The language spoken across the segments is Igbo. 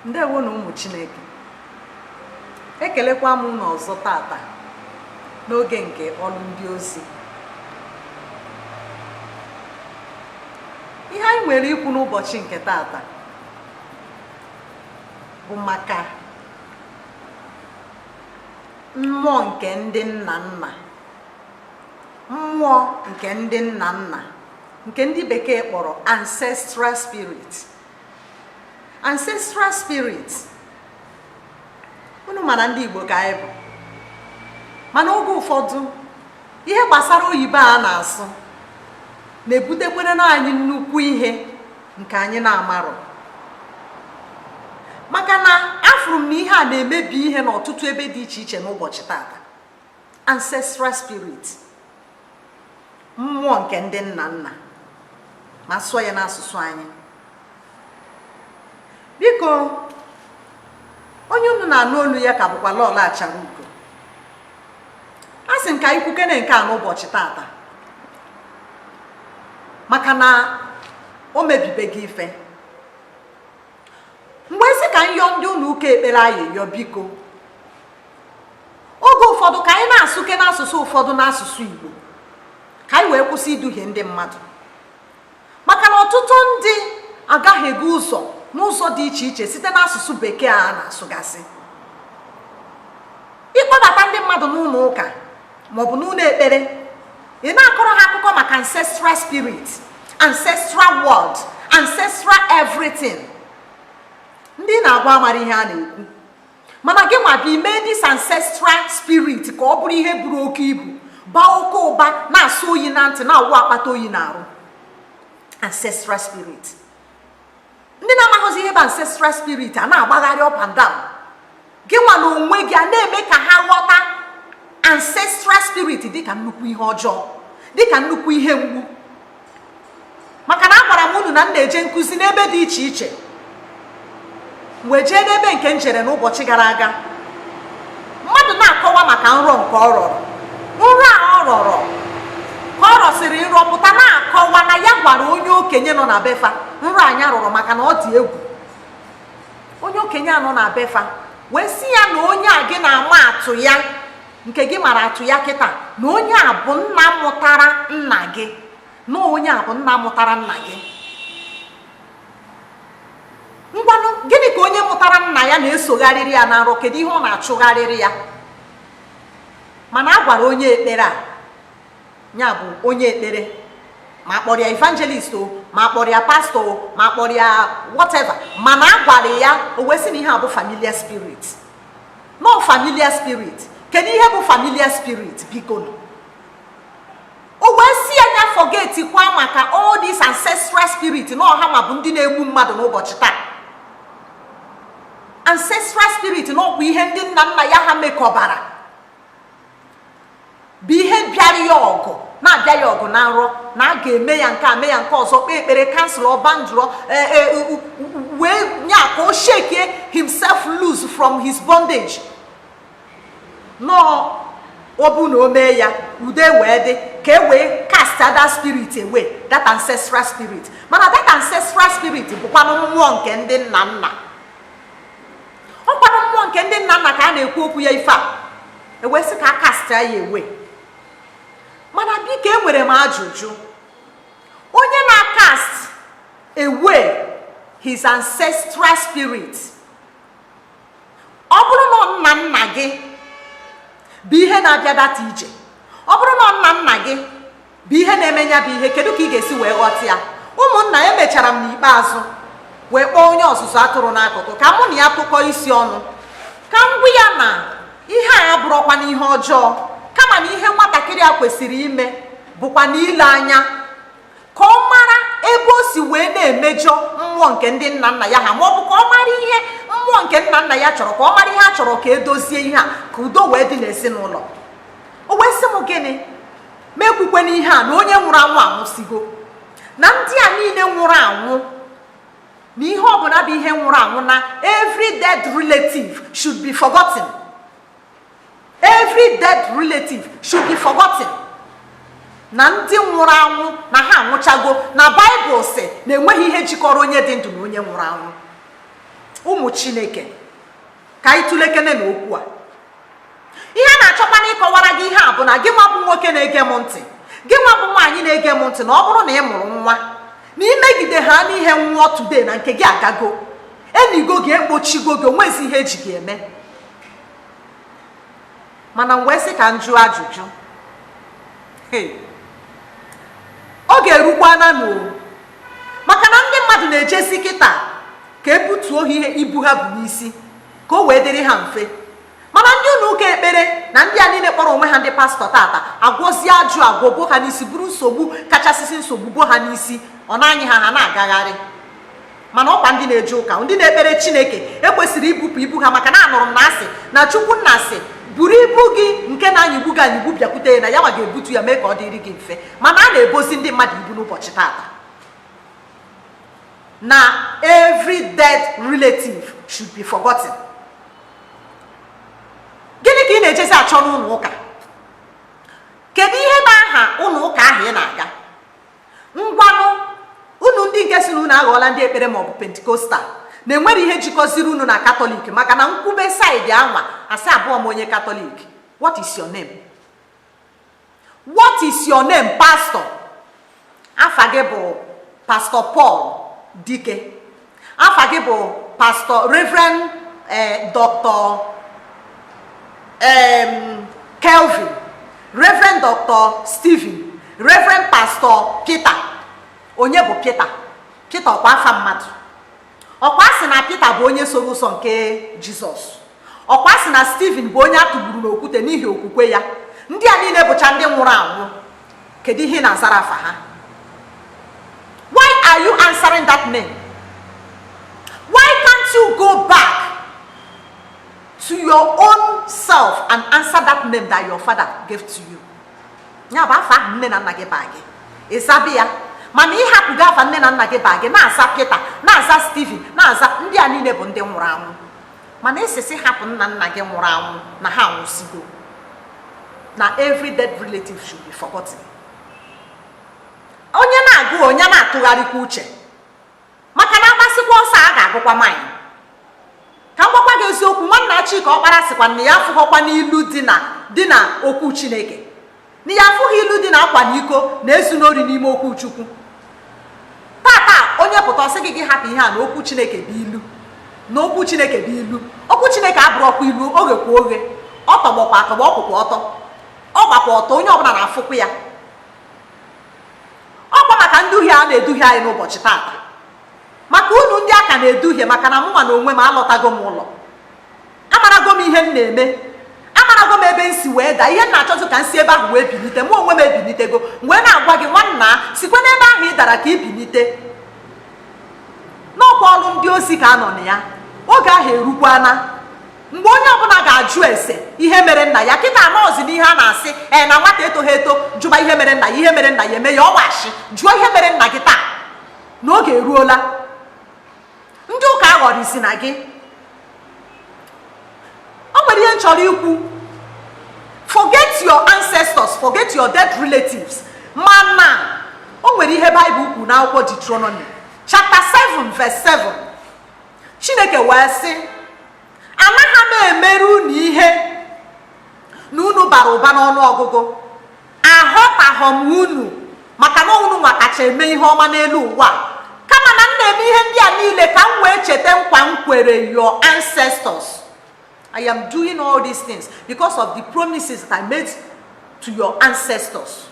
ndewo nụ ụmụ chineke ekelekwa m unu ọzọ tata n'oge nke ọlụ ndị ozi ihe anyị nwere ikwu n'ụbọchị nke tata bụ maka mmụọ nke ndị nna nna mmụọ nke ndị nna nna nke ndị bekee kpọrọ ancestral spirit ancestral spirit unu ma na ndị Igbo ka anyị bụ mana oge ụfọdụ ihe gbasara oyibo a na-asụ na-ebutekwere nụ anyị nnukwu ihe nke anyị na-amarọ maka na afụrụ m na ihe a na-emebi ihe n'ọtụtụ ebe dị iche iche n'ụbọchị tata ancestral spirit mmụọ nke ndị nna nna ma a sụọ ya n'asụsụ anyị biko onye unu na-anụ olu ya ka bụkwa lọlọ Acharaugo asị m ka anyị kwukene nke a n'ụbọchị tata maka na o mebibego ife m wee sị ka m yọọ ndị ụnọ ụka ekpere ayịyọ biko oge ụfọdụ ka anyị na-asụkene asụsụ ụfọdụ n'asụsụ Igbo ka anyị wee kwụsị iduhie ndị mmadụ maka na ọtụtụ ndị agahiego ụzọ n'ụzọ dị iche iche site n'asụsụ bekee a na-asụgasị ị kpọbata ndị mmadụ n'ụnọ ụka maọbụ n'ụnọ ekpere ị na-akọrọ ha akụkọ maka ancestral spirit ancestral world ancestral everything ndị ị na-agwa amarọ ihe a na-ekwu mana gị nwa bịa mee this ancestral spirit ka ọ bụrụ ihe buru oke ibu baa oke ụba na-asọ oyi na ntị na-awụ akpata oyi n'arụ ancestral spirit ndị na-amaghịzi ihe bụ ancestral spirit a na-agbagharị up and down gị nwa na onwe gị a na-eme ka ha ghọta ancestral spirit dịka nnukwu ihe ọjọọ dịka nnukwu ihe mgbu maka na agwara m unu na m na-eje nkụzi n'ebe dị iche iche m wee jee n'ebe nke m jere n'ụbọchị gara aga mmadụ na-akọwa maka nrọ nke ọ rọrọ nrọ a ọ rọrọ ka ọ rọsịrị nrọ pụta na-akọwa na ya gwara onye okenye nọ na be fa nrọ a nya rọrọ maka na ọ dị egwu onye okenye a nọ na be fa wee sị ya na onye a gị na-ama atụ ya nke gị mara atụ ya kịta na onye a bụ nna mụtara nna gị na onye a bụ nna mụtara nna gị ngwanụ gịnị ka onye mụtara nna ya na-esogharịrị ya na nrọ kedu ihe ọ na-achụgharịrị ya mana a gwara onye ekpere a ya bụ onye ekpere ma kpọrọ ya evangelist o ma kpọrọ ya pastor o ma kpọrọ ya whatever mana a gwara ya o wee sị na ihe a bụ familiar spirit na ọ familiar spirit kedu ihe bụ familiar spirit bikonụ o wee sị ya nya forget kwa maka all these ancestral spirit na ọ ha nwa bụ ndị na-egbu mmadụ n'ụbọchị taa ancestral spirit na ọkwa ihe ndị nna nna ya ha mekọbara bụ ihe bịara ya ọgụ na-abịa ya ọgụ na nrọ na a ga-eme ya nke a mee ya nke ọzọ kpee ekpere cancel ọba ndụrọ e, e, wee nye aka o shake himself loose from his bondage na ọ bụ na o mee ya udo ewee dị ka e wee cast that spirit away that ancestral spirit mana that ancestral spirit bụkwanụ mmụọ nke ndị nna nna ọ kwanụ mmụọ nke ndị nna nna ka a na-ekwu okwu ya ife a ewee sị ka a cast ya away mana biko enwere m ajụjụ onye na-acast away his ancestral spirit ọ bụrụ na nna nna gị bụ ihe na-abịa data ije ọ bụrụ na nna nna gị bụ ihe na-eme nya bụ ihe kedu ka ị ga-esi wee ghọta ya ụmụnna emechara m n'ikpeazụ wee kpọọ onye ọzụzụ atụrụ n'akụkụ ka mụ na ya tụkọọ isi ọnụ ka m gwa ya na ihe a abụrọkwanụ ihe ọjọọ kama na ihe nwatakịrị a kwesịrị ime bụkwanụ ile anya ka ọ mara ebe o si wee na-emejọ mmụọ nke ndị nna nna ya ha ma ọ bụ ka ọ mara ihe mmụọ nke nna nna ya chọrọ ka ọ mara ihe a chọrọ ka edozie ihe a ka udo wee dị n'ezinụlọ o wee sị m gịnị mụ ekwukwene ihe a na onye nwụrụ anwụ anwụsigo na ndị a niile nwụrụ anwụ na ihe ọbụla bụ ihe nwụrụ anwụ na every dead relative should be forgotten every dead relative should be forgotten na ndị nwụrụ anwụ na ha anwụchago na baịbụl sị na enweghị ihe jikọrọ onye dị ndụ na onye nwụrụ anwụ ụmụ chineke ka anyị tụlekenenụ okwu a ihe a na-achọkwanụ ịkọwara gị ihe a bụ na gị nwa bụ nwoke na-ege m ntị gị nwa bụ nwaanyị na-ege m ntị na ọ bụrụ na ị mụrụ nwa na imegide ha n'ihe nwụọ today na nke gị agago enigo gị ekpochigo gị onwezi ihe eji gị eme mana m wee sị ka m jụọ ajụjụ ọ ga-erukwa na n'o maka na ndị mmadụ na-ejezi kịta ka e butuo ha ihe ibu ha bu n'isi ka o wee dịrị ha mfe mana ndị ụlọ ụka ekpere na ndị a niile kpọrọ onwe ha ndị pastọ tata agwọzie ajụ agwọ bo ha n'isi buru nsogbu kachasịsị nsogbu bo ha n'isi ọ na-anyị ha ha na-agagharị mana ọkwa ndị na-eje ụka ndị na-ekpere chineke ekwesịrị ibupụ ibu ha maka na anụrụ m na a sị na chukwu nna asị buru ibu gị nke na-anyịgbu gị anyịgbu bịakwute ya na ya nwa ga-ebutu ya mee ka ọ dịrị gị mfe mana a na-ebozi ndị mmadụ ibu n'ụbọchị tata na every dead relative should be forgotten gịnị ka ị na-ejezi achọ n'ụlọ ụka kedu ihe bụ aha ụlọ ụka ahụ ị na-aga ngwanụ unu ndị nke sị na unu aghọọla ndị ekpere maọbụ pentikostal na e nwere ihe jikọziri unu na katọlik maka na m kwube side a nwa a sị abụọ m onye katọlik what is your name What is your name, pastor? Afa gị bụ Pastor Paul Dike. Afa gị bụ Pastor Reverend eh, Dr. Um, Kelvin, Reverend Dr. Stephen, Reverend Pastor Peter. Onye bụ Peter? Peter ọkwa afa mmadụ. Ọkwa a sị na Peter bụ onye soro ụzọ nke Jizọs. ọkwa a sị na Stephen bụ onye a tụgburu n'okwute n'ihi okwukwe ya ndị a niile bụcha ndị nwụrụ anwụ kedu ihe ị na-azara afa ha why are you answering that name why can't you go back to your own self and answer that name that your father gave to you ya bụ afa ahụ nne na nna gị baa gị ị zabe ya mana ị hapụgo afa nne na nna gị baa gị na-aza Peter na-aza Stephen na-aza ndị a niile bụ ndị nwụrụ anwụ mana ị sịzị hapụ nna nna gị nwụrụ anwụ na ha anwụsigo na every dead relative should be forgotten onye na-agụ onye na-atụgharịkwa uche maka na a gbasịkwa ọsọ a ga-agụkwa mile ka m gwakwa gị eziokwu nwanna Chika Ọkpara sịkwa na ya afụghọkwanụ ilu dị na okwu Chineke na ya afụghị ilu dị na akwana iko na ezuna ori n'ime okwu chukwu tata onye pụta ọ sị gị gị hapụ ihe a na okwu chineke bụ ilu na okwu chineke bụ ilu okwu chineke abụrọkwa ilu o ghekwa oghe ọ tọgbọkwa atọgbọ ọ kwụkwa ọtọ ọ gbakwa ọtọ onye ọbụla na-afụkwa ya ọkwa maka nduhie a na-eduhie anyị n'ụbọchị tata maka unu ndị a ka na-eduhie maka na mụnwa na onwe m alọtago m ụlọ amarago m ihe m na-eme amarago m ebe m si wee daa ihe m na-achọzụ ka m si ebe ahụ wee bilite mụ onwe m ebilitego wee na-agwa gị nwanna sikwa n'ebe ahụ ị dara ka ị bilite n'ọkwa ọrụ ndị ozi ka a nọ na ya oge ahụ erukwana mgbe onye ọbụla ga-ajụ ese ihe mere nna ya kịta anọzi n'ihe a na-asị ee na nwata etoghị eto jụba ihe mere nna ya ihe mere nna ya eme ya ọ wụ asị jụọ ihe mere nna gị taa na oge eruola ndị ụka aghọrịzina gị o nwere ihe m chọrọ ikwu forget your ancestors forget your dead relatives mana o nwere ihe baịbụl kwuru n'akwụkwọ Deuteronomy chapter 7 verse 7 chineke wee sị anaghị m emere unu ihe na unu bara ụba n'ọnụ ọgụgụ Ahọtaghọ m unu maka na unu nwa kacha eme ihe ọma n'elu ụwa kama na m na-eme ihe ndị a niile ka m wee cheta nkwa m kwere your ancestors I am doing all these things because of the promises that I made to your ancestors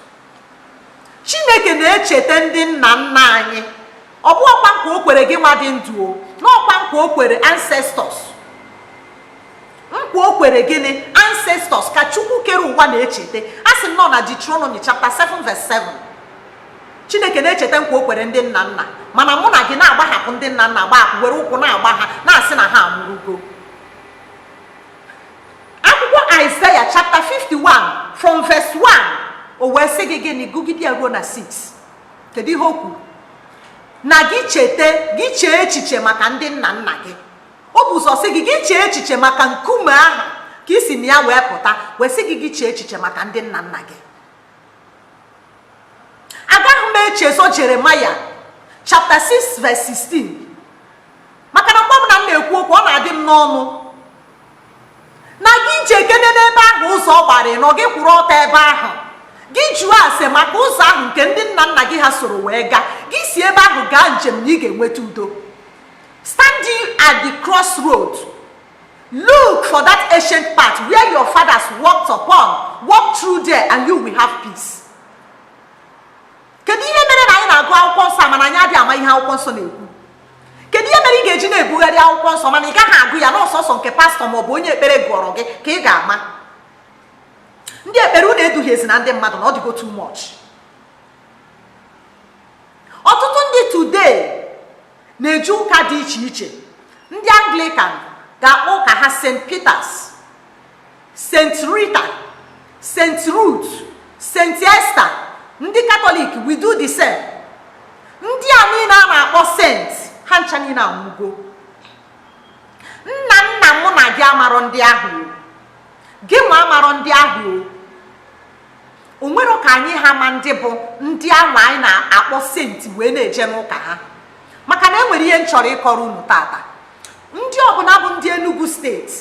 Chineke na-echeta ndị nna nna anyị ọ bụghọkwa nkwa o kwere gị nwa dị ndụ o n'ọkwa nkwa o kwere ancestors nkwa o kwere gịnị ancestors ka chukwu kere ụwa na-echeta asị m nọ na Deuteronomy chapter 7 verse 7 chineke na-echeta nkwa o kwere ndị nna nna mana mụ na gị na-agbahapụ ndị nna nna gbahapụ were ụkwụ na-agba ha na-asị na ha anwụrụgo akwụkwọ Isaiah chapter 51 from verse 1 o wee sị gị gịnị gụgide ya ruo na 6 kedu ihe o kwuru na gị cheta gị chee echiche maka ndị nna nna gị o bu ụzọ sị gị gị chee echiche maka nkume ahụ ka i si na ya wee pụta wee sị gị gị chee echiche maka ndị nna nna gị agaghị m echezo Jeremiah chapter 6 verse 16 maka na mgbe ọbụla m na-ekwu okwu ọ na-adị m n'ọnụ na gị jekene n'ebe ahụ ụzọ ọ gbara ịnọ gị kwụrụ ọtọ ebe ahụ gị jụọ ase maka ụzọ ahụ nke ndị nna nna gị ha soro wee gaa gị si ebe ahụ gaa njem na ị ga-enweta udo Standing at the crossroad, look for that ancient path where your fathers walked upon, walk through there and you will have peace. Kedu ihe mere na anyị na-agụ akwụkwọ nsọ mana anyị adịghị ama ihe akwụkwọ nsọ na-ekwu? Kedu ihe mere ị ga-eji na-ebugharị akwụkwọ nsọ mana ị gaghị agụ ya n'ọ sọsọ nke pastọ ma ọ bụ onye ekpere gụọrọ gị ka ị ga-ama? Ndị ekpere unu eduhiezina ndị mmadụ na ọ dịgo too much. Ọtụtụ ndị today na-eji ụka dị iche iche ndị anglikan ga-akpọ ụka ha st peters st rita st rut st esta ndị katọlik we do the same ndị a niine a na-akpọ saint ha ncha niine anwụgo nna nna mụ na gị amarọ ndị ahụ gị nwa amarọ ndị ahụ o nwere ka anyị ha ma ndị bụ ndị anwa anyị na-akpọ senti wee na-eje n'ụka ha maka na e nwere ihe m chọrọ ịkọrọ unu tata ndị ọbụna bụ ndị Enugu steeti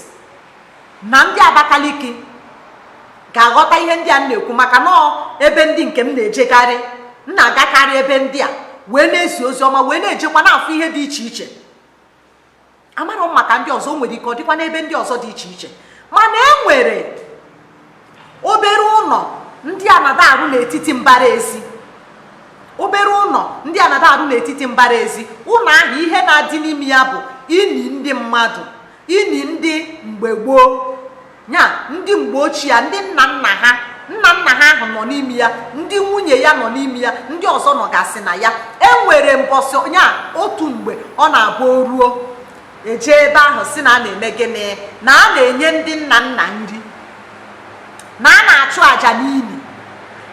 na ndị Abakaliki ga-aghọta ihe ndị a m na-ekwu maka na ọ ebe ndị nke m na-ejekarị m na-agakarị ebe ndị a wee na-ezi ozi ọma wee na-ejekwa na-afụ ihe dị iche iche amarọ m maka ndị ọzọ nwere ike ọ dịkwa n'ebe ndị ọzọ dị iche iche mana e nwere obere ụnọ ndị anada arụ n'etiti mbara ezi obere ụnọ ndị anada arụ n'etiti mbara ezi ụnọ ahụ ihe na-adị n'ime ya bụ ini ndị mmadụ ini ndị mgbe gboo ya ndị mgbe ochie ndị nna nna ha nna nna ha ahụ nọ n'ime ya ndị nwunye ya nọ n'ime ya ndị ọzọ nọgasị na ya e nwere mbọsị ya otu mgbe ọ na-abụ o ruo e je ebe ahụ sị na a na-eme gịnị na a na-enye ndị nna nna nri na a na-achụ àjà n'ini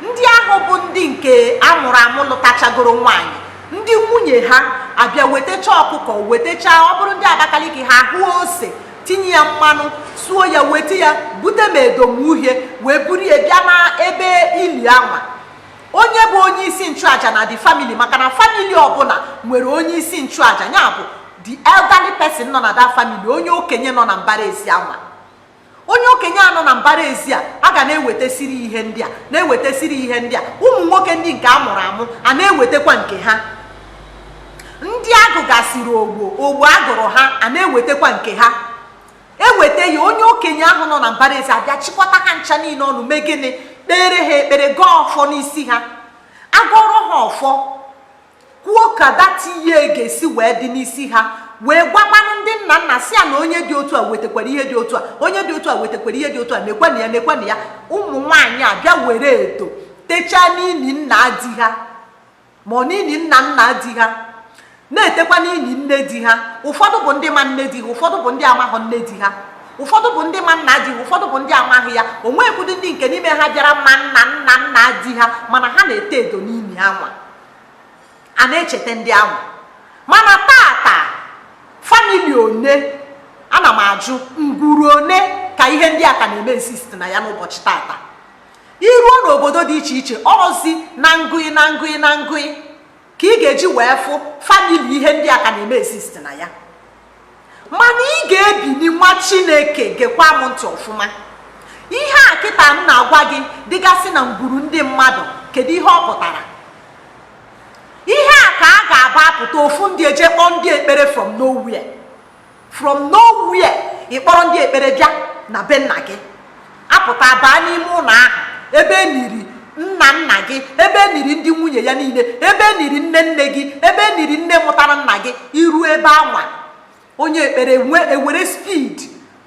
ndị ahụ bụ ndị nke a mụrụ amụ lụtachagoro nwaanyị ndị nwunye ha abịa wetacha ọkụkọ wetacha ọ bụrụ ndị abakaliki ha hụ ose tinye ya mmanụ suo ya weta ya bute ma edo ma uhie wee buru ya bịa na ebe ini anwa onye bụ onye isi nchụaja na the family maka na family ọbụna nwere onye isi nchụaja ya bụ the elderly person nọ na that family onye okenye nọ na mbara ezi anwa onye okenye a nọ na mbara ezi a a ga na-ewetesiri ihe ndị a na-ewetesiri ihe ndị a ụmụ nwoke ndị nke a mụrụ amụ a na-ewetekwa nke ha ndị a gụgasịrị ogbo ogbo a gụrụ ha a na-ewetekwa nke ha e weta ya onye okenye ahụ nọ na mbara ezi abịa chịkọta ha ncha niine ọnụ mee gịnị kpere ha ekpere gọọ ọfọ n'isi ha a gọrọ ha ọfọ kwuo ka that year ga-esi wee dị n'isi ha wee gwakwanụ ndị nna nna sị ya na onye dị otu a wetakwara ihe dị otu a onye dị otu a wetakwara ihe dị otu a nekwanụ ya nekwanụ ya ụmụ nwaanyị abịa were edo techaa n'ini nna di ha ma ọ n'ini nna nna di ha na-etekwa n'ini nne di ha ụfọdụ bụ ndị ma nne di ha ụfọdụ bụ ndị amaghọ nne di ha ụfọdụ bụ ndị ma nna di ha ụfọdụ bụ ndị amaghị ya o nwekwudu ndị nke n'ime ha bịara ma nna nna nna di ha mana ha na-ete edo n'ini anwa a na-echeta ndị anwa mana tata family one ana m ajụ ngwuru one ka ihe ndị a ka na-eme exist na ya n'ụbọchị tata iruo n'obodo dị iche iche ọzi na ngụị na ngụị na ngụị ka ị ga-eji wee fụ family ihe ndị a ka na-eme exist na ya mana ị ga-ebili nwa chineke gekwa m ntị ọfụma ihe a kịta m na-agwa gị dịgasị na ngwuru ndị mmadụ kedu ihe ọ pụtara ihe a ka a ga-aba apụta ofu ndị eje kpọọ ndị ekpere from nowhere from nowhere ị kpọrọ ndị ekpere bịa na be nna gị apụta baa n'ime ụlọ ahụ ebe e niri nna nna gị ebe e niri ndị nwunye ya niile ebe e niri nne nne gị ebe e niri nne mụtara nna gị iruo ebe anwa onye ekpere ewere speed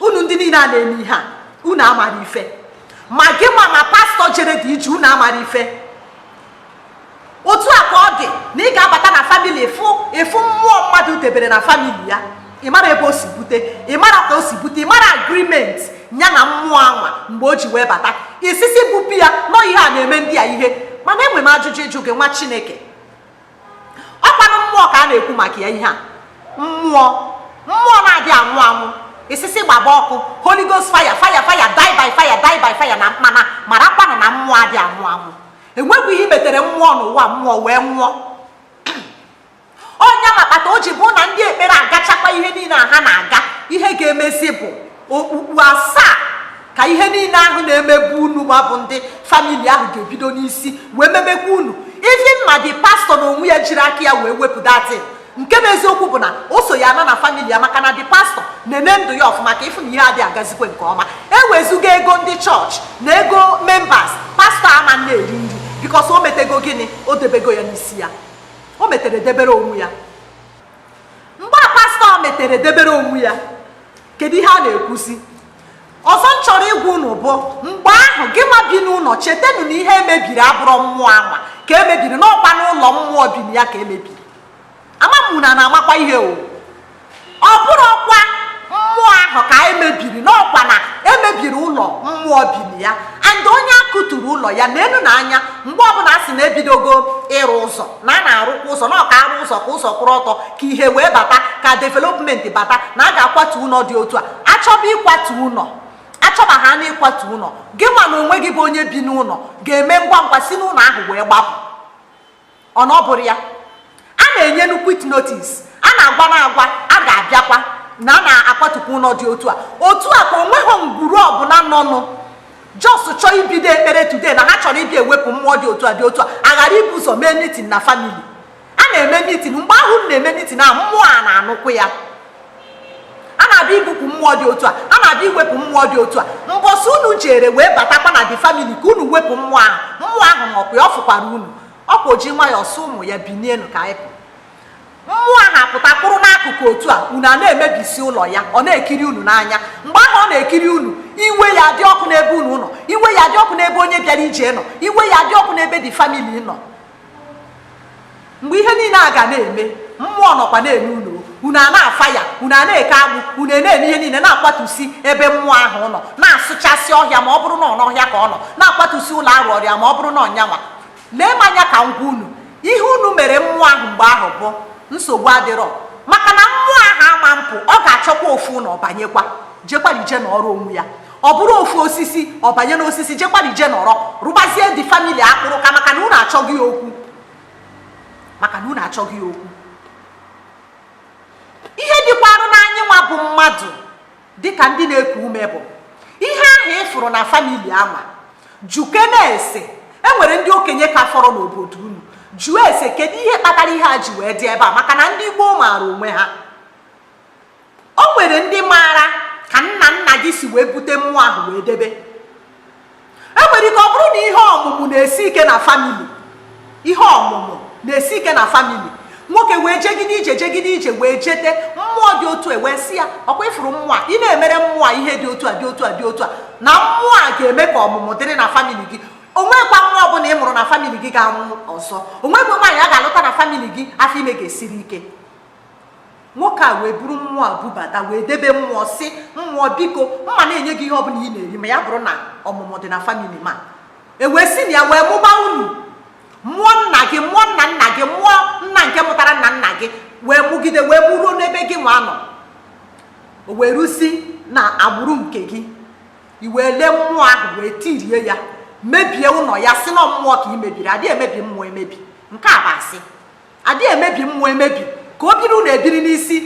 unu ndị niile a na-eme ihe a unu amara ife ma gị nwa ma pastor jere the ije unu amara ife otu a ka ọ dị na ị ga-abata na family ị fụ mmụọ mmadụ debere na family ya ị mara ebe o si bute ị mara ka o si bute ị mara agreement ya na mmụọ anwa mgbe o ji wee bata ị sị sị bupụ ya na ọ ihe a na-eme ndị a ihe mana enwere m ajụjụ ịjụ gị nwa chineke ọkwanụ mmụọ ka a na-ekwu maka ya ihe a mmụọ mmụọ na-adị anwụ anwụ ị sị sị gbaba ọkụ holy ghost fire fire fire die by fire die by fire na mana marakwanụ na mmụọ adị anwụ anwụ enwebu ihe metere mmụọ n'ụwa mmụọ wee nwụọ onye makpata o ji bụ na ndị ekpere agachakwa ihe niile a ha na-aga ihe ga-emezi bụ okpukpu asaa ka ihe niile ahụ na-emebu unu ma ọ bụ ndị family ahụ ga-ebido n'isi wee mebekwa unu even ma the pastor na onwe ya jiri aka ya wee wepụ that thing nke bụ eziokwu bụ na o so ya ana na family ya maka na the pastor na-ene ndụ ya ọfụma ka ị fụ na ihe adịghị agazikwe nke ọma ewezuga ego ndị church na ego members pastor ama na-eri nri because o metego gịnị o debego ya n'isi ya o metere debere onwe ya mgbe a pastor metere debere onwe ya kedu ihe a na-ekwuzi ọzọ m chọrọ ịgwa unu bụ mgbe ahụ gị nwa bi n'ụlọ chetanụ na ihe emebiri abụrọ mmụọ anwa ka emebiri na ọkwanụ ụlọ mmụọ bi na ya ka emebiri ama m unu na-amakwa ihe o ọ bụrọkwa mmụọ ahụ ka emebiri na ọkwa na emebiri ụlọ mmụọ bi na ya and onye a kụturu ụlọ ya na enu na anya mgbe ọbụla a sị na ebidogo ịrụ ụzọ na a na-arụkwa ụzọ na ọ ka a rụọ ụzọ ka ụzọ kwụrụ ọtọ ka ihe wee bata ka development bata na a ga-akwatu ụlọ dị otu a achọba ịkwatu ụlọ achọba ha na ịkwatu ụlọ gị nwa na onwe gị bụ onye bi n'ụlọ ga-eme ngwa ngwa si n'ụlọ ahụ wee gbapụ ọ na ọ bụrọ ya a na-enye unu quit notice a na-agwa na-agwa a ga-abịakwa na a na-akwatukwa ụlọ dị otu a otu a ka onweghị ngwuru ọbụla nọnụ just chọọ ibido ekpere today na ha chọrọ ịbịa ewepụ mmụọ dị otu a dị otu a aghara ibu ụzọ mee mitin na famili a na-eme mitin mgbe ahụ a na-eme mitin ahụ mmụọ a na-anụkwu ya a na-abịa ibupụ mmụọ dị otu a a na-abịa iwepụ mmụọ dị otu a mbọsị unu jere wee batakwa na the family ka unu wepụ mmụọ ahụ mmụọ ahụ nọkwa ya ọ fụkwara unu ọkwa o ji nwayọọ sị ụmụ ya binienu ka anyị pụ mmụọ ahụ apụta kwụrụ n'akụkụ otu a unu a na-emebisi ụlọ ya ọ na-ekiri unu n'anya mgbe ahụ ọ na-ekiri unu iwe ya dị ọkụ n'ebe unu nọ iwe ya dị ọkụ n'ebe onye bịara ije nọ iwe ya dị ọkụ n'ebe the family nọ mgbe ihe niile a ga na-eme mmụọ nọkwa na-ene unu unu a na-afa ya unu a na-eke agbụ unu na-eme ihe niile na-akwatusi ebe mmụọ ahụ nọ na-asụchasị ọhịa ma ọ bụrụ na ọ n'ọhịa ka ọ nọ na-akwatusi ụlọ a rụụrụ ya ma ọ bụrụ na ọnyanwa lee m anya ka m gwa unu ihe unu mere mmụọ ahụ mgbe ahụ bụ nsogbu adịrọ maka na mmụọ ahụ ama mpụ ọ ga-achọkwa ofu ụlọ banyekwa jekwara ije nọrọ onwe ya ọ bụrụ ofu osisi ọ banye n'osisi jekwara ije nọrọ rụbazie the family akpụrụka maka na unu achọghị ya okwu maka na unu achọghị ya okwu ihe dịkwarụ n'anyị nwa bụ mmadụ dịka ndị na-eku ume bụ ihe ahụ ị fụrụ na famili anwa jụkene ese e nwere ndị okenye ka fọrọ n'obodo unu jụọ ese kedu ihe kpatara ihe a ji wee dị ebe a maka na ndị gboo maara onwe ha o nwere ndị maara ka nna nna gị si wee bute mmụọ ahụ wee debe e nwere ike ọ bụrụ na ihe ọmụmụ na-esi ike na famili ihe ọmụmụ na-esi ike na famili nwoke wee jegide ije jegide ije wee jete mmụọ dị otu a e wee sị ya ọkwa ị fụrụ mmụọ a ị na-emere mmụọ a ihe dị otu a dị otu a dị otu a na mmụọ a ga-eme ka ọmụmụ dịrị na famili gị o nwekwa nwa ọbụla ị mụrụ na famili gị ga-anwụ ọzọ o nwekwa nwaanyị a ga-alụta na famili gị afọ ime ga-esiri ike nwoke a wee buru mmụọ a bubata wee debe mmụọ sị mmụọ biko m ma na-enye gị ihe ọ bụla ị na-eri ma ya bụrụ na ọmụmụ dị na famili m a e wee si na ya wee mụba unu mụọ nna gị mụọ nna nna gị mụọ nna nke mụtara nna nna gị wee mụgide wee mụruo n'ebe gị nwa nọ o wee rusi n'agbụrụ nke gị i wee lee mmụọ ahụ wee tirie ya mebie ụlọ ya sị na mmụọ ka i mebiri a dịghị emebi mmụọ emebi nke a bụ asị a dịghị emebi mmụọ emebi ka o biri unu ebiri n'isi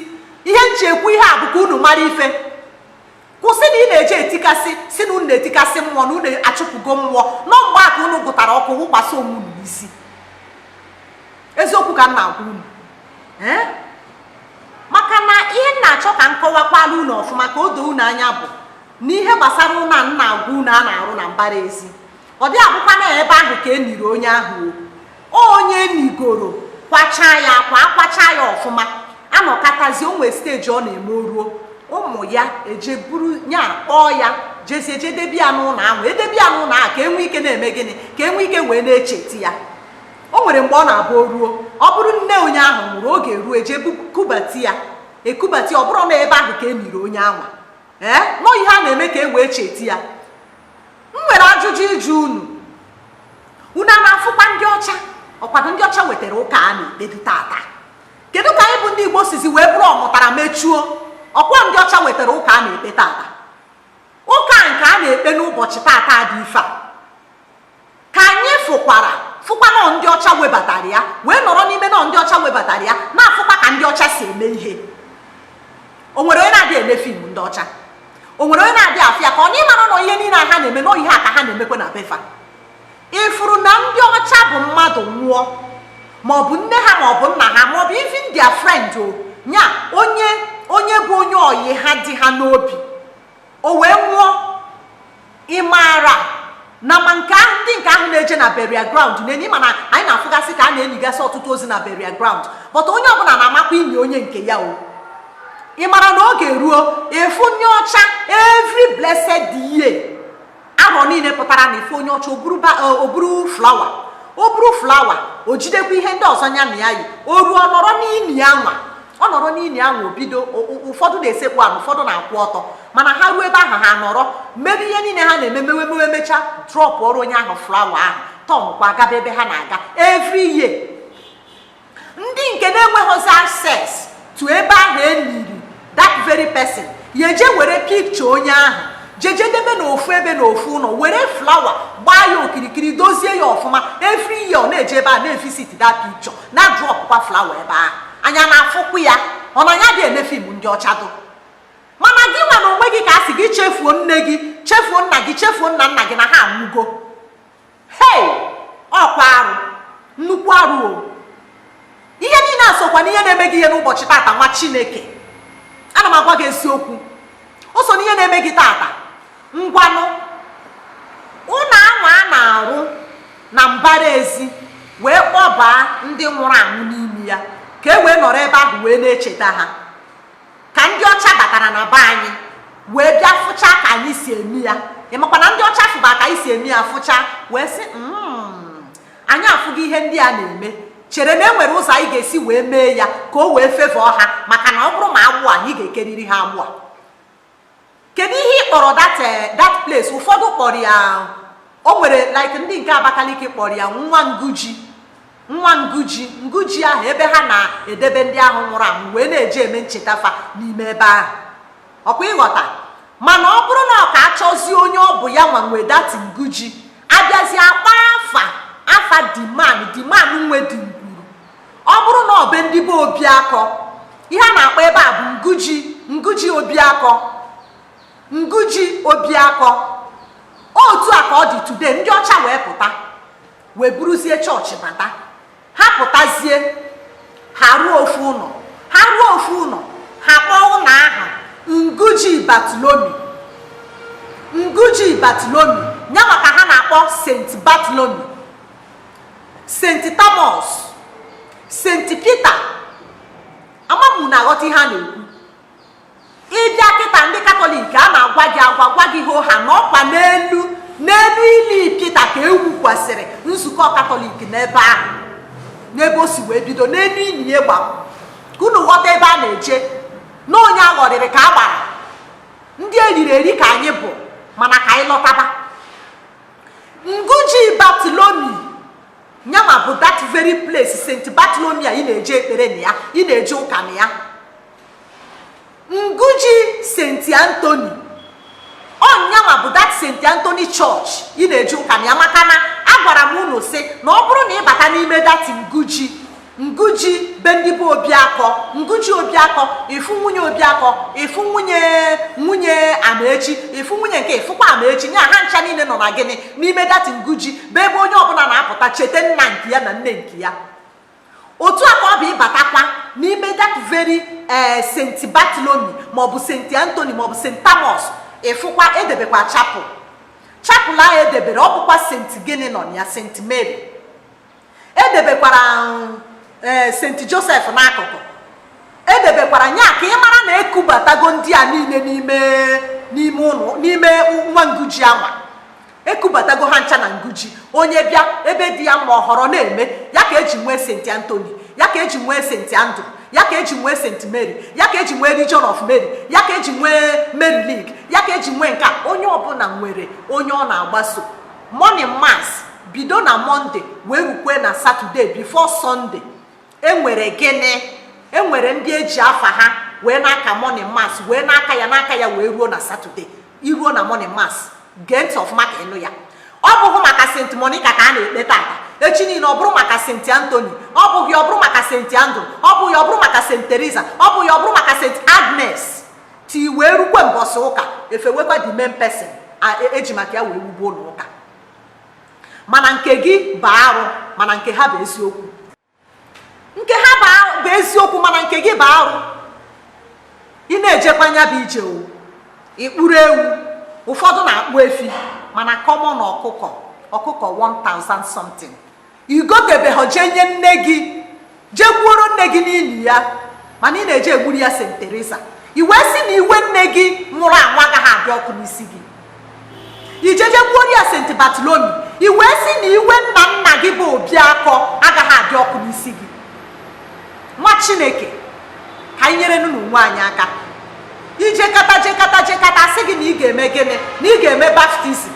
ihe m ji ekwu ihe a bụ ka unu mara ife kwụsị na ị na-eje etikasị sị na unu na-etikasị mmụọ na unu achụpụgo mmụọ na ọ mgbe a ka unu gụtara ọkụ wụkwasị onwe unu n'isi eziokwu ka m na-agwa unu ee maka na ihe m na-achọ ka m kọwakwaara unu ọfụma ka o doo unu anya bụ na ihe gbasara ụlọ a m na-agwa unu a na-arụ na mbara ezi ọ dị abụkwa na ebe ahụ ka eniri onye ahụ onye enigoro kwacha ya akwa akwacha ya ọfụma anọkatazi onwe steji ọ na-eme o ruo ụmụ ya eje buru ya kpọọ ya jezie jedebe ya n'ụlọ ahụ edebe ya n'ụlọ ahụ ka enwe ike na-eme gịnị ka enwe ike wee na-echeti ya o nwere mgbe ọ na-abụ ruo ọ bụrụ nne onye ahụ nwụrụ oge ruo eje kubati ya ekubati ọ bụrụ na ebe ahụ ka eniri onye anwa nọ ihe a na-eme ka e wee cheti ya m nwere ajụjụ ịjụ unu unu a na-afụkwa ndị ọcha ọkwadụ ndị ọcha wetara ụka a na-ekpedu tata kedu ka anyị bụ ndị igbo sizi wee bụrụ ọmụtara mechuo ọkwa ndị ọcha wetara ụka a na-ekpe tata ụka nke a na-ekpe n'ụbọchị tata dị ife a ka anyị fụkwara fụkwa nọ ndị ọcha webatara ya wee nọrọ n'ime nọ ndị ọcha webatara ya na-afụkwa ka ndị ọcha si eme ihe o nwere onye na-adị ene fim ndị ọcha o nwere onye na-adị afụ ya ka ọ na ịmara nọ ihe niile a ha na-eme nọ ihe a ka ha na-emekwe na be fa ịfụrụ na ndị ọcha bụ mmadụ nwụọ maọbụ nne ha maọbụ nna ha maọbụ even their friend o nya onye onye bụ onye oyi ha dị ha n'obi o wee nwụọ ị maara na ma nke ndị nke ahụ na-eje na burial ground na-eni mana anyị na-afụgasị ka a na-enigasị ọtụtụ ozu na burial ground but onye ọbụla na-amakwa ini onye nke ya o ị mara na oge ruo ị fụ onye ọcha every blessed year arọ niile pụtara na ị fụ onye ọcha o buru eh, flawa o buru flawa o jidekwa ihe ndị ọzọ nya na ya yi o ruo ọ nọrọ n'ini anwa ọ nọrọ n'ini anwa o bido ụfọdụ na-esekpu ana ụfọdụ na-akwụ ọtọ mana ha ruo ebe ahụ ha nọrọ mebe ihe niile ha na-eme mewe mewe mecha drọpụọrọ onye ahụ flawa ahụ tọnkwa gaba ebe ha na-aga every year ndị nke na-enweghịzi access to ebe ahụ eniri that very person ya eje were pikcha onye ahụ jejedebe na ofu ebe na ofu ụlọ were flawa gbaa ya okirikiri dozie ya ọfụma every year ọ na-eje ebe ahụ na-evisit that picture na-adrọpụkwa flawa ebe ahụ anyị ana-afụkwu ya ọ na anyị adị ene fim ndị ọcha dụ mana gị nwa na onwe gị ka a sị gị chefuo nne gị chefuo nna gị chefuo nna nna gị na ha anwụgo hei ọkwa arụ nnukwu arụ o ihe niile a sokwa n'ihe na-eme gị ihe n'ụbọchị tata nwa chineke ana m agwa gị eziokwu o so n'ihe na-eme gị tata ngwanụ ụlọ ahụ a na-arụ na mbara ezi wee kpọbaa ndị nwụrụ anwụ n'ime ya ka e wee nọrọ ebe ahụ wee na-echeta ha ka ndị ọcha batara na be anyị wee bịa fụcha ka anyị si eme ya ịmakwa na ndị ọcha fụba ka anyị si eme ya fụcha wee sị hmm, anyị afụgo ihe ndị a na-eme chere na e nwere ụzọ anyị ga-esi wee mee ya ka o wee fevọọ ha maka na ọ bụrụ ma agbụ anyị ga-ekeriri ha agbụ a kedu ihe ị kpọrọ that eh, that place ụfọdụ kpọrọ ya o nwere like ndị nke abakaliki kpọrọ ya nwa nguji nwa nguji nguji ahụ ebe ha na-edebe ndị ahụ nwụrụ anwụ wee na-eji eme ncheta fa n'ime ebe ahụ ọkwa ịghọta mana ọ bụrụ na ọ ka achọzie onye ọ bụ ya nwa nwe that nguji abịazie akpọ afa afa the man the man nwe the ọ bụrụ na ọ be ndị be obiakọ ihe a na-akpọ ebe a bụ nguji nguji obiakọ nguji obiakọ otu a ka ọ dị today ndị ọcha wee pụta wee buruzie chọọchị bata ha pụtazie ha rụọ ofu ụnọ ha rụọ ofu ụnọ ha kpọọ ụnọ aha nguji Bartholomew nguji Bartholomew ya nwa ka ha na-akpọ St. Bartholomew St. Thomas St. Peter ama m unu aghọta ihe a na-ekwu ịbịa kịta ndị katọlik a na-agwa gị agwa gwa gị hoo haa na ọkwa n'elu n'elu ili Peter ka e wukwasịrị nzukọ katọlik n'ebe ahụ n'ebe o si wee bido n'elu ili ya gbara ka unu ghọta ebe a na-eje na onye aghọrịrị ka a gbara ndị eriri eri ka anyị bụ mana ka anyị lọtaba nguji Bartholomew nya nwa bụ that very place St. Bartholomew a ị na-eje ekpere na ya ị na-eje ụka na ya nguji St. Anthony ọ nya nwa bụ that St. Anthony church ị na-eje ụka na ya maka na agwara m unu sị na ọ bụrụ na ịbata n'ime that nguji Nguji be ndị bụ Obiakọ Nguji Obiakọ ịfụ nwunye Obiakọ ịfụ nwunye nwunye Amaechi ịfụ nwunye nke ịfụkwa Amaechi nya ha ncha niile nọ na gịnị n'ime that Nguji bụ ebe onye ọbụla na-apụta cheta nna nke ya na nne nke ya otu a ka ọ bụ ịbatakwa n'ime that very ee eh, St. Bartholomew maọbụ St. Anthony maọbụ St. Thomas ịfụkwa edebekwa chapel chapel ahụ edebere ọ bụkwa St. gịnị nọ na ya St. Mary edebekwara um, eh, St. Joseph n'akụkụ edebekwara nya ka ị mara na ekubatago ndị a niile n'ime n'ime ụlọ n'ime nwa nguji anwa ekubatago ha ncha na nguji onye bịa ebe dị ya mma ọ họrọ na-eme ya ka eji nwee St. Anthony ya ka eji nwee St. Andrew ya ka eji nwee St. Mary ya ka eji nwee Legion of Mary ya ka eji nwee Mary League ya ka eji nwee nke a onye ọbụla nwere onye ọ na-agbaso Morning Mass bido na Monday wee rukwee na Saturday before Sunday enwere gịnị enwere ndị eji afa ha wee na-aka Morning Mass wee na-aka ya na-aka ya wee ruo na Saturday i ruo na Morning Mass gee ntị ọfụma ka ịnụ ya ọ bụghị maka St. Monica ka a na-ekpe tata echi niile ọ bụrụ maka St. Anthony ọ bụghị ọ bụrụ maka St. Andrew ọ bụghị ọ bụrụ maka St. Teresa ọ bụghị ọ bụrụ maka St. Agnes ti wee rukwe mbọsị ụka efewekwa the main person eji maka ya wee wube ụlọ ụka mana nke gị bụ arụ mana nke ha bụ eziokwu nke ha bụ eziokwu mana nke gị bụ arụ ị na-ejekwa nya bụ ije o ị kpụrụ ewu ụfọdụ na-akpụ efi mana kọmọn ọkụkọ ọkụkọ 1000 something i gotebeghọ jee nye nne gị jee gbuoro nne gị n'ili ya mana ị na-eje egburu ya St. Teresa i wee sị na iwe nne gị nwụrụ anwụ agaghị adị ọkụ n'isi gị ijeje gbuoro ya St. Bartholomew i wee sị na iwe nna nna gị bụ Obiakọ agaghị adị ọkụ n'isi gị nwa chineke ka anyị nyerenụ onwe anyị aka i jekata jekata jekata sị gị na ị ga-eme gịnị na ị ga-eme baptizim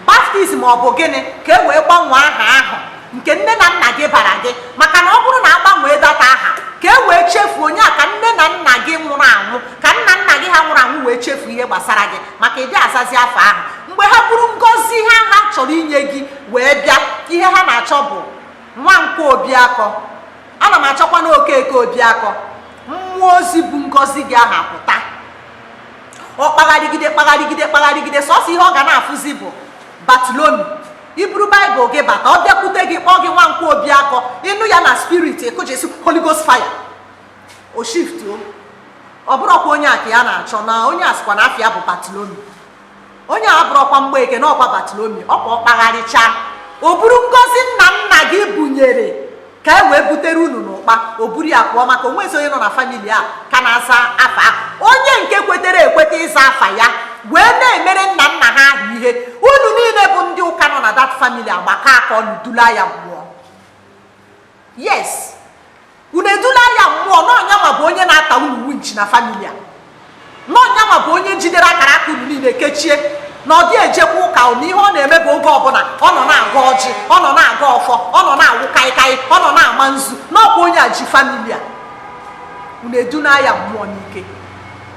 baptizim ọ bụ gịnị ka e wee gbanwee aha ahụ nke nne na nna gị bara gị maka na ọ bụrụ na a gbanwee dat aha ka e wee chefuo onye a ka nne na nna gị nwụrụ anwụ ka nna nna gị ha nwụrụ anwụ wee chefuo ihe gbasara gị maka ị dị azazi afa ahụ mgbe ha buru ngọzi ha ha chọrọ inye gị wee bịa ihe ha na-achọ bụ Nwankwọ Obiakọ ana m achọkwa na Okeke Obiakọ mmụọ ozi bu ngọzi gị ahụ pụta ọ kpagharịgide kpagharịgide kpagharịgide sọsọ ihe ọ ga na-afụzi bụ Bartholomew i buru baịbụl gị bata ọ bịakwute gị kpọọ gị Nwankwọ Obiakọ ị nụ ya na spirit ekojesi holy ghost fire o shift o ọ bụrọkwa onye a ka ya na-achọ na onye a sịkwa na afa ya bụ Bartholomew onye a bụrọkwa Mgbeke na ọkwa Bartholomew ọkwa ọ kpagharịchaa o buru ngọzi nna nna gị bunyere ka e wee butere unu n'ụkpa o buru ya pụọ maka o nwezi onye nọ na famili a ka na-aza afa a onye nke kwetere ekweta ịza afa ya wee na-emere nna nna ha ahụ ihe unu niile bụ ndị ụka nọ na dat famili agbakọọ aka ọnụ dula ya mmụọ yes unu edula ya mmụọ n'ọ nyanwa bụ onye na-ata unu winchi na famili a n'ọ nyanwa bụ onye jidere akara aka unu niile kechie na ọ dị ejekwa ụka na ihe ọ na-eme bụ oge ọbụla ọ nọ na-agọ ọjị ọ nọ na-agọ ọfọ ọ nọ na-awụ kaịkaị ọ nọ na-ama nzu n'ọkwa onye a ji famili a unu eduna ya mmụọ n'ike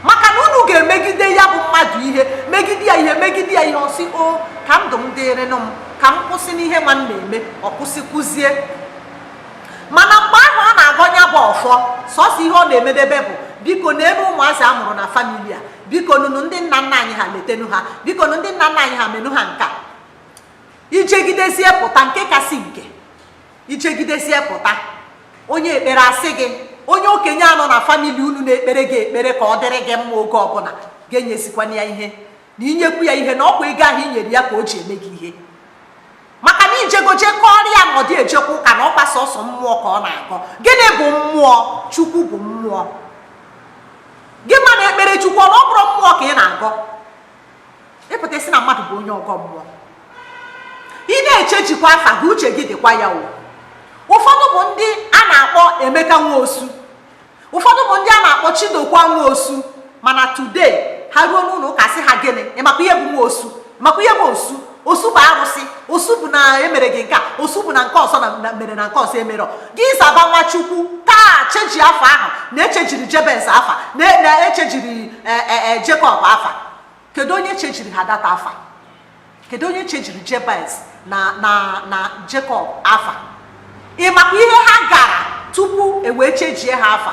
maka na unu ga-emegide ya bụ mmadụ ihe megide ya ihe megide ya ihe ọ sị o ka ndụ m dịrịnụ m ka m kwụsị n'ihe nwa m na-eme ọ kwụsịkwuzie mana mgbe ahụ ọ na-agọ nya bụ ọfọ sọsọ ihe ọ na-emedebe bụ biko na ebe ụmụazị a mụrụ na famili a bikonụnụ ndị nna nna anyị ha letenu ha bikonụ ndị nna nna anyị ha menụ ha nka i jegidezie pụta nke kasị nke ijegidesie pụta onye ekpere asị gị onye okenye a nọ na famili unu na-ekpere gị ekpere ka ọ dịrị gị mma oge ọbụla gị enyezikwana ya ihe na inyekwu ya ihe na ọkwa ego ahụ i nyere ya ka o ji eme gị ihe maka na ijegoje kọọrọ ya na ọ dị ejekwa ụka na ọkwa sọsọ mmụọ ka ọ na-agọ gịnị bụ mmụọ chukwu bụ mmụọ gị nwa na-ekpere chukwu ọ bụrụ mmụọ ka ị na-agọ ị pụta ịsị na mmadụ bụ onye ọgọ mmụọ ị na-echejikwa afa gị uche gị dịkwa ya o ụfọdụ bụ ndị a na-akpọ emeka nwaosu ụfọdụ bụ ndị a na-akpọ chidokwa nwaosu mana today ha ruo n'ụlọ ụka sị ha gịnị ịmakwa ihe bụ nwaosu ịmakwa ihe bụ osu osu bụ arụsị osu bụ na emere gị nke a osu bụ na nke ọzọ na mere na nke ọzọ emerọ gị zaba nwa chukwu taa cheji afa ahụ na echejiri jebez afa na echejiri e, e, e, jekọb afa kedu onye chejiri ha that afa kedu onye chejiri jebez na na na jekọb afa ị makwa ihe ha gara tupu ewee chejie ha afa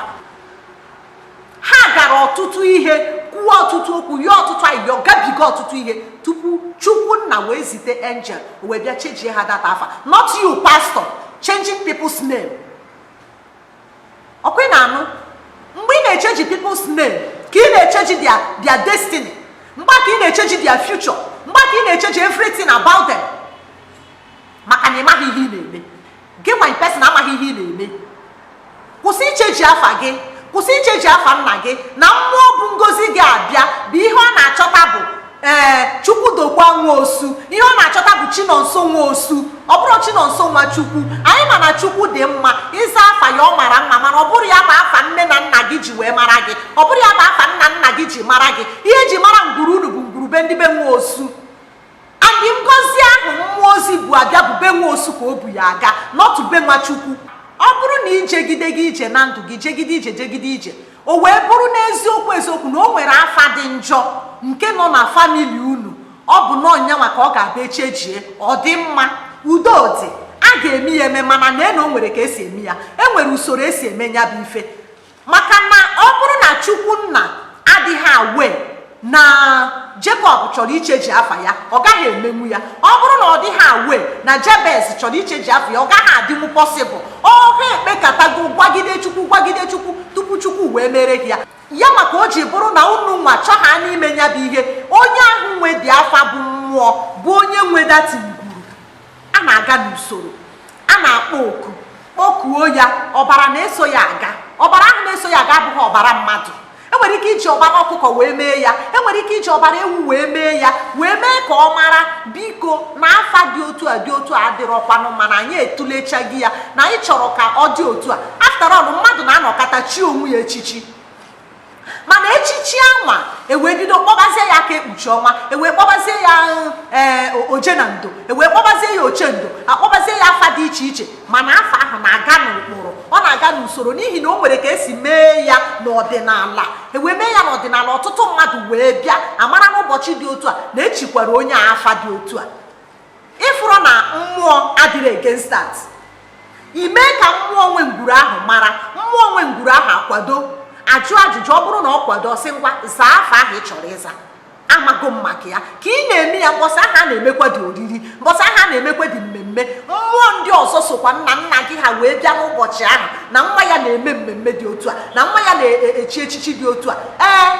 ha gara ọtụtụ ihe kwuo ọtụtụ okwu yọọ ọtụtụ ayịyọ gabiga ọtụtụ ihe tupu chukwu nna wee zite angel wee bịa chejie ha that afa not you pastor changing people's name ọkwa ị na-anụ mgbe ị na-echeji people's name ka ị na-echeji their destiny mgbe ka ị na-echeji their future mgbe ka ị na-echeji everything about them maka na ị maghị ihe ị na-eme gị nwa in person amaghị ihe ị na-eme kwụsị icheji afa gị kwụsị icheji afa nna gị na mmụọ bu ngozi gị abịa bụ ihe ọ na-achọta bụ ee eh, chukwudokwa nwa osu ihe ọ na-achọta bụ chinonso nwa osu ọ bụrụ chinonso nwa chukwu anyị ma na chukwu dị mma ịza afa ya ọ mara mma mana ọ bụrụ ya bụ afa nne na nna gị ji wee mara gị ọ bụrụ ya bụ afa nna nna gị ji mara gị ihe eji mara ngwuru unu bụ ngwuru be ndị be nwa osu And ngozi ahụ mmụọ ozi bu abịa bụ be nwa osu ka o bu ya aga not be nwa Chukwu. Ọ bụrụ na ijegide gị ije na ndụ gị jegide ije jegide ije o wee bụrụ n'eziokwu eziokwu na o nwere afa dị njọ nke nọ na famili unu ọ bụ na ọ nyanwa ka ọ ga-abụ echejie ọ dị mma udo dị a ga-eme ya eme mana na-ene o nwere ka esi eme ya e nwere usoro esi eme ya bụ ife maka na ọ bụrụ na chukwu nna adịghị aware na Jekọb chọrọ icheji afa ya ọ gaghị emenwu ya ọ bụrụ na ọ dịghị aware na Jebez chọrọ icheji afa ya ọ gaghị adịnwu possible ọ ha ekpekatago gwagide chukwu gwagide chukwu tupu chukwu wee mere ha ya ya maka o ji bụrụ na unu nwa chọ ha n'ime ya bụ ihe onye ahụ nwe the afa bụ mmụọ bụ onye nwe that a na-aga n'usoro a na-akpọ oku kpọkuo ya ọbara na-eso ya aga ọbara ahụ na-eso ya aga abụghị ọbara mmadụ enwere ike iji ọbara ọkụkọ wee mee ya enwere ike iji ọbara ewu wee mee ya wee mee ka ọ mara biko na afa dị otu a dị otu a adịrọkwanụ mana anyị etulechaghị ya na anyị chọrọ ka ọ dị otu a after all mmadụ na-anọkata chi onwe ya echichi mana echichi anwa ewee bido kpọbazie ya aka ekpuchi ọnwa ewee kpọbazie ya ee eh, oje na ndo ewee kpọbazie ya oche ndo akpọbazie ya afa dị iche iche mana afa ahụ na-aga n'ụkpụrụ ọ na-aga n'usoro n'ihi na o nwere ka esi mee ya n'ọdịnala ewee mee ya n'ọdịnala ọtụtụ mmadụ wee bịa amara n'ụbọchị dị otu a na echikwara onye a afa dị otu a ịfụrụ na mmụọ adịrị against that ime ka mmụọ nwe ngwuru ahụ mara mmụọ nwe ngwuru ahụ akwado ajụ ajụjụ ọ bụrụ na ọ kwado sị ngwa zaa afa ahụ ị chọrọ ịza amago m maka ya ka ị na-eme ya mbọsị ahụ a na-emekwadị oriri mbọsị ahụ a na-emekwadị mmemme mmụọ ndị ọzọ sokwa nna nna gị ha wee bịa n'ụbọchị ahụ na nwa ya na-eme mmemme dị otu a na nwa ya na-echi echichi dị otu a ee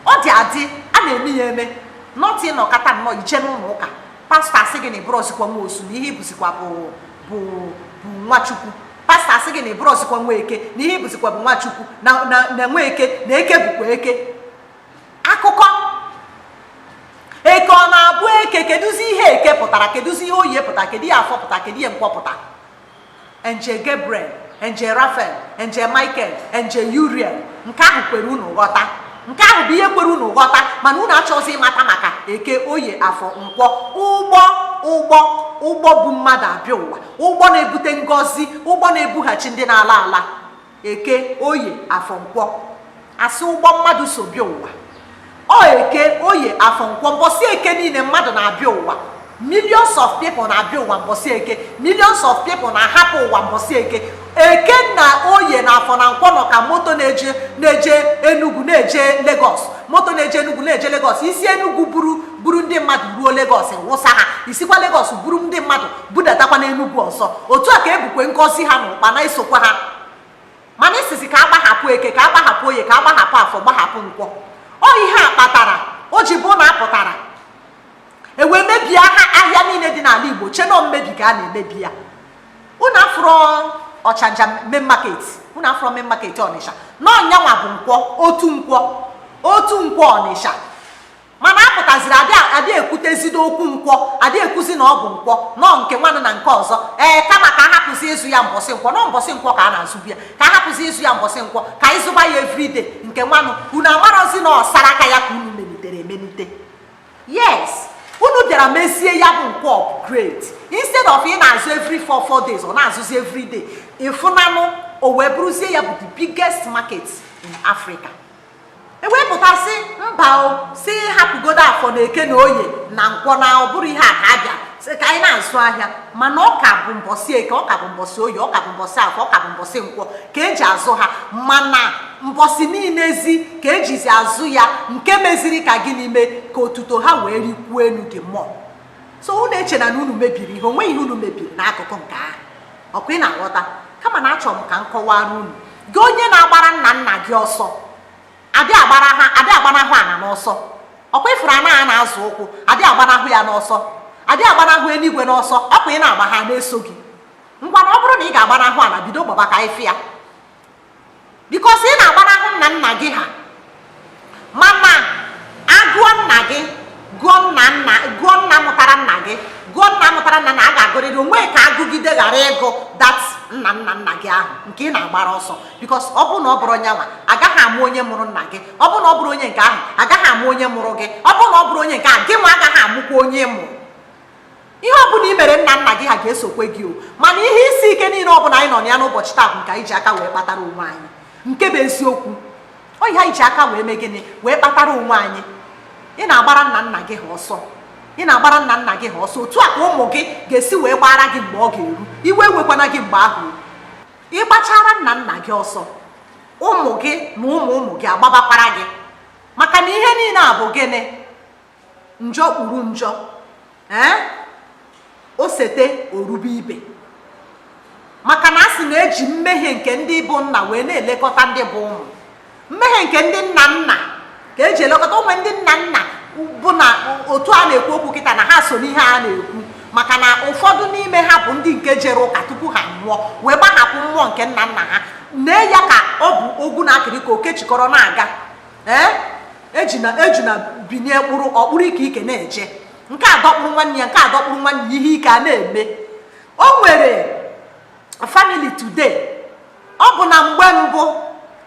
ọ dị adị a na-eme ya eme not ị nọkata nnọọ i jee n'ụlọ ụka pastọ asị gị na ịbụrọzikwa nwa osu na ihe ibụzikwa bụ bụ bụ nwa chukwu pastọ asị gị na ịbụrọzikwa nwa eke na ihe ibụzikwa bụ nwa chukwu na na- na nwa eke na eke bụkwa eke akụkọ eke ọ na-abụ eke kedụzi ihe eke pụtara kedụzi ihe oye pụtara kedụ ihe afọ pụtara kedụ ihe nkwọ pụtara angel Gabriel angel Rafael angel Michael angel Uriel nke ahụ kwere unu ghọta nke ahụ bụ ihe kwere unu ghọta mana unu achọzi ịmata maka eke oye afọ nkwọ ụgbọ ụgbọ ụgbọ bu mmadụ abịa ụwa ụgbọ na-ebute ngọzi ụgbọ na-ebughachi ndị na-ala ala eke oye afọ nkwọ asị ụgbọ mmadụ so bịa ụwa ọ eke oye afọ nkwọ mbọsị eke niile mmadụ na-abịa ụwa millions of people na-abịa ụwa mbọsị eke millions of people na-ahapụ ụwa mbọsị eke eke na oye na afọ na nkwọ nọ ka moto na-eje na-eje Enugu na-eje Lagos moto na-eje Enugu na-eje Lagos isi Enugu buru buru ndị mmadụ ruo Lagos wụsa ha isikwa Lagos buru ndị mmadụ budatakwa n'Enugwu ọzọ otu a ka ebukwe ngọzi ha n'ụkpa na-esokwa ha mana ị sịzi ka agbahapụ eke ka agbahapụ oye ka agbahapụ afọ gbahapụ nkwọ ọ ihe a kpatara o ji bụ na apụtara ewee mebie ha ahịa niile dị n'ala Igbo chee na mmebi ka a na-emebi ya unu afụrụ ọchanja main market unu afụrụ main market Ọnịsha na ọ nyanwa bụ nkwọ otu nkwọ otu nkwọ Ọnịsha mana apụtaziri adị ekwutezide okwu nkwọ adị ekwuzi na ọ bụ nkwọ nọọ nke nwanụ na nke ọzọ ee kama ka a hapụzi ịzụ ya mbọsị nkwọ nọọ mbọsị nkwọ ka a na-azụbu ya ka a hapụzi ịzụ ya mbọsị nkwọ ka anyị zụba ya everyday nke nwanụ unu amarozi na ọsara aka ya ka unu melitere emelite yes unu bịara mezie ya bụ nkwọ upgrade instead of ị na-azụ every four four days ọ na-azụzi everyday ịfụnanụ o wee bụrụzie ya bụ the biggest market in Africa ewepụtasị mba o sị hapụgodo afọ na eke na oye na nkwọ na ọ bụrụ ihe a ka abịa sị ka anyị na-azụ ahịa mana ọ ka bụ mbọsị eke ọ ka bụ mbọsị oye ọ ka bụ mbọsị afọ ọ ka bụ mbọsị nkwọ ka eji azụ ha mana mbọsị niile ezi ka ejizi azụ ya nke meziri ka gịnị mee ka otuto ha wee rikwuo enu dị mmụọ so unu echena na unu mebiri ihe onweghị ihe unu mebiri n'akụkụ nke ahụ ọkwa ị na-aghọta kama na achọrọ m ka m kọwara unu gị onye na-agbara nna nna gị ọsọ adị agbanahụ ana n'ọsọ ọkwa ịfụrụ ana a na-azọ ụkwụ adị agbanahụ ya n'ọsọ adị agbanahụ enuigwe n'ọsọ ọkwa ị na-agba ha na-eso gị ngwa na ọ bụrụ na ị ga-agbanahụ ana bido gbaba ka ife ya because ị na-agbanahụ nna nna gị ha mana agụọ nna gị gụọ nna mụtara nna gị gụọ nna mụtara nna na a ga-agụrịrị onwe ka agụgide ghara ịgụ that nna nna nna gị ahụ nke ị na-agbara ọsọ because ọ bụrụ na ọ bụrọ nya nwa agaghị amụ onye mụrụ nna gị ọ bụrụ na ọ bụrọ onye nke ahụ agaghị amụ onye mụrụ gị ọ bụrụ na ọ bụrọ onye nke ahụ gị nwa agaghị amụkwa onye mụrụ ihe ọ bụla i mere nna nna gị ha ga-esokwe gị o mana ihe isi ike niile ọ bụla anyị nọ na ya n'ụbọchị taa bụ nke anyị ji aka wee kpatara onwe anyị nke bụ eziokwu ọ ihe anyị ji aka wee mee gịnị wee kpatara onwe anyị ị na-agbara nna nna gị ha ọsọ ị na-agbara nna nna gị ha ọsọ otu a ka ụmụ gị ga-esi wee gbara gị mgbe ọ ga-eru iwe ewekwana gị mgbe ahụ ị gbachara nna nna gị ọsọ ụmụ gị na ụmụ ụmụ gị agbabakwara gị maka na ihe niile a bụ gịnị njọ kpuru njọ ee o sete o rube ibe maka na a sị na eji mmehie nke ndị bụ nna wee na-elekọta ndị bụ ụmụ mmehie nke ndị nna nna ka eji elekọta ụmụ ndị nna nna bụ na otu a na-ekwu okwu kịta na ha so n'ihe a na-ekwu maka na ụfọdụ n'ime ha bụ ndị nke jere ụka tupu ha nwụọ wee gbahapụ mmụọ nke nna nna ha nee ya ka ọ bụ ogwu na akịrị ka o kechikọrọ na-aga ee ejuna binie kpụrụ ọ kpụrụ ike ike na-eje nke a dọkpụrụ nwanne ya nke a dọkpụrụ nwanne ya ihe ike a na-eme o nwere family today ọ bụ na mgbe mbụ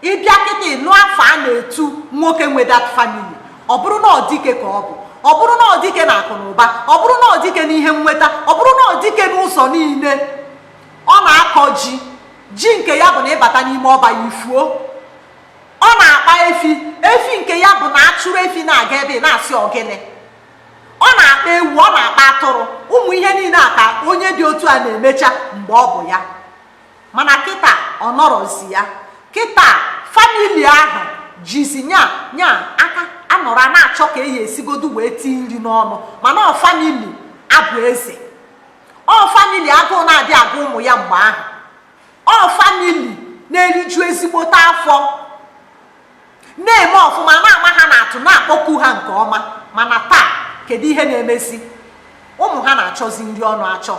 ịbịa kịta ịnụ afa a na-etu nwoke nwe that family ọ bụrụ na ọ dike ka ọ bụ ọ bụrụ na ọ dike na akụ na ụba ọ bụrụ na ọ dike n'ihe nweta ọ bụrụ na ọ dike n'ụzọ niile ọ na-akọ ji ji nke ya bụ na ịbata n'ime ọba ya i fuo ọ na-akpa efi efi nke ya bụ na a chụrụ efi na-aga ebe na-asị ọ gịnị ọ na-akpa ewu ọ na-akpa atụrụ ụmụ ihe niile a ka onye dị otu a na-emecha mgbe ọ bụ ya mana kịta ọ nọrọzi ya kịta famili ahụ jizi nya nya aka anọrọ a na-achọ ka eyi esigodu wee tii nri n'ọnụ mana ọ famili a bụ eze ọ famili agụụ na-adị agụ ụmụ ya mgbe ahụ ọ famili na-eriju ezigbote afọ na-eme ọfụma na-ama ha n'atụ na-akpọku ha nke ọma mana taa kedu ihe na-emezi ụmụ ha na-achọzi nri ọnụ achọ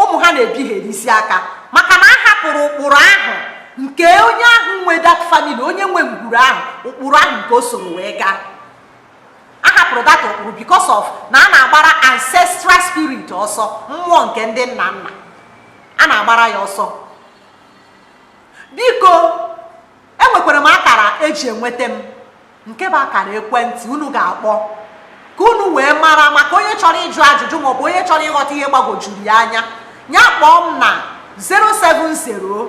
ụmụ ha na-ebigherisi aka maka na a hapụrụ ụkpụrụ ahụ nke onye ahụ nwe that family onye nwe ngwuru ahụ ụkpụrụ ahụ nke o soro wee gaa a hapụrụ that ụkpụrụ because of na a na-agbara ancestral spirit ọsọ mmụọ nke ndị nna nna a na-agbara ya ọsọ biko enwekwara m akara e ji enweta m nke bụ akara ekwentị unu ga-akpọ ka unu wee mara maka onye chọrọ ịjụ ajụjụ maọbụ onye chọrọ ịghọta ihe gbagwojuru ya anya ya kpọọ m na 070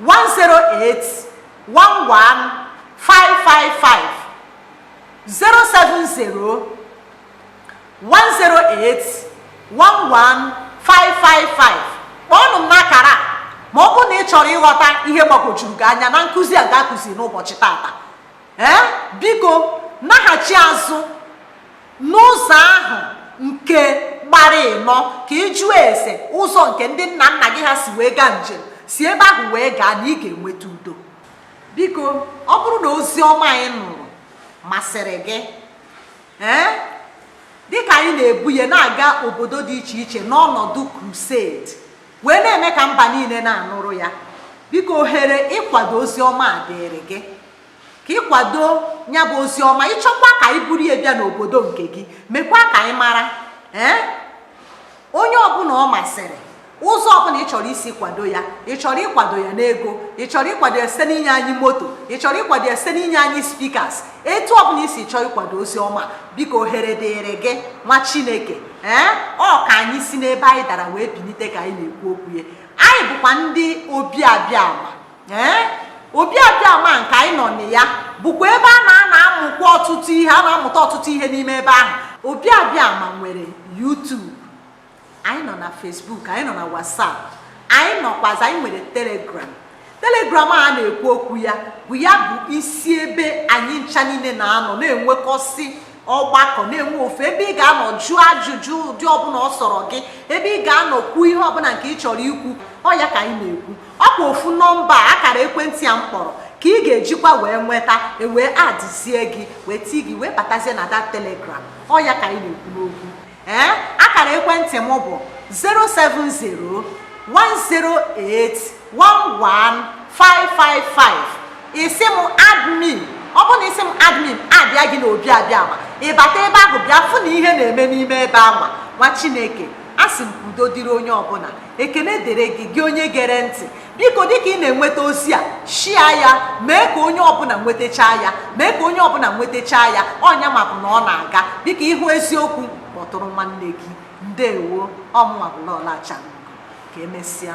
108 11555 070 kpọọnụ m n'akara ma ọ bụrụ na ị chọrọ ịghọta ihe gbagwojuru gị anya na nkụzi a ga-akụzi n'ụbọchị tata ee biko naghachi azụ n'ụzọ ahụ nke gbara ịnọ ka ị jụọ ese ụzọ nke ndị nna nna gị ha si wee gaa njem si ebe ahụ wee gaa na ị ga-enweta udo biko ọ bụrụ na ozi ọma anyị nụrụ masịrị gị ee dịka anyị na-ebu ya na-aga obodo dị iche iche n'ọnọdụ crusade wee na-eme ka mba niile na-anụrụ ya biko ohere ịkwado ozi ọma a dịrị gị ka ị kwado ya bụ ozi ọma ị chọkwa ka anyị buru ya bịa n'obodo nke gị mekwa ka anyị mara ee onye ọbụla ọ masịrị ụzọ ọbụla ị chọrọ isi kwado ya ị chọrọ ịkwado ya n'ego ị chọrọ ịkwado ya site n'inye anyị moto ị chọrọ ịkwado ya site n'inye anyị speakers etu ọbụla i si chọọ ịkwado ozi ọma biko ohere dịrị gị nwa chineke ee ọ ka anyị si n'ebe anyị dara wee bilite ka anyị na-ekwu okwu ya anyị bụkwa ndị Obi Abiama ee Obi Abiama nke anyị nọ na ya bụkwa ebe a na a na-amụkwa ọtụtụ ihe a na-amụta ọtụtụ ihe n'ime ebe ahụ Obi Abiama nwere YouTube anyị nọ na Facebook anyị nọ na WhatsApp anyị nọkwazi anyị nwere Telegram Telegram a na-ekwu okwu ya bụ ya bụ isi ebe anyị ncha niile na-anọ na-enwekọsị ọgbakọ na-enwe ofe ebe ị ga-anọ jụọ ajụjụ ụdị ọbụla ọ sọrọ gị ebe ị ga-anọ kwuo ihe ọbụla nke ị chọrọ ikwu ọ ya ka anyị na-ekwu ọ kwa ofu nọmba akara ekwentị a m kpọrọ ka ị ga-ejikwa wee nweta e wee adịzie gị wee tii gị wee batazie na that telegram ọ ya ka anyị na-ekwu n'okwu ee eh, akara ekwentị m bụ 070 108 11555 ị sị m add me ọ bụrụ na ị sị m add me adịa gị na obiabiama ị bata ebe ahụ bịa fụ na ihe na-eme n'ime ebe anwa nwa chineke asị m udo dịrị onye ọbụla ekele dịrị gị gị onye gere ntị biko dịka ị na-enweta ozi a share ya mee ka onye ọbụla nwetachaa ya mee ka onye ọbụla nwetachaa ya onye amahụ na ọ na-aga biko ị hụ eziokwu kpọtụrụ nwanne gị ndewo ọ mụnwa bụ lolo acharaugo ka emesịa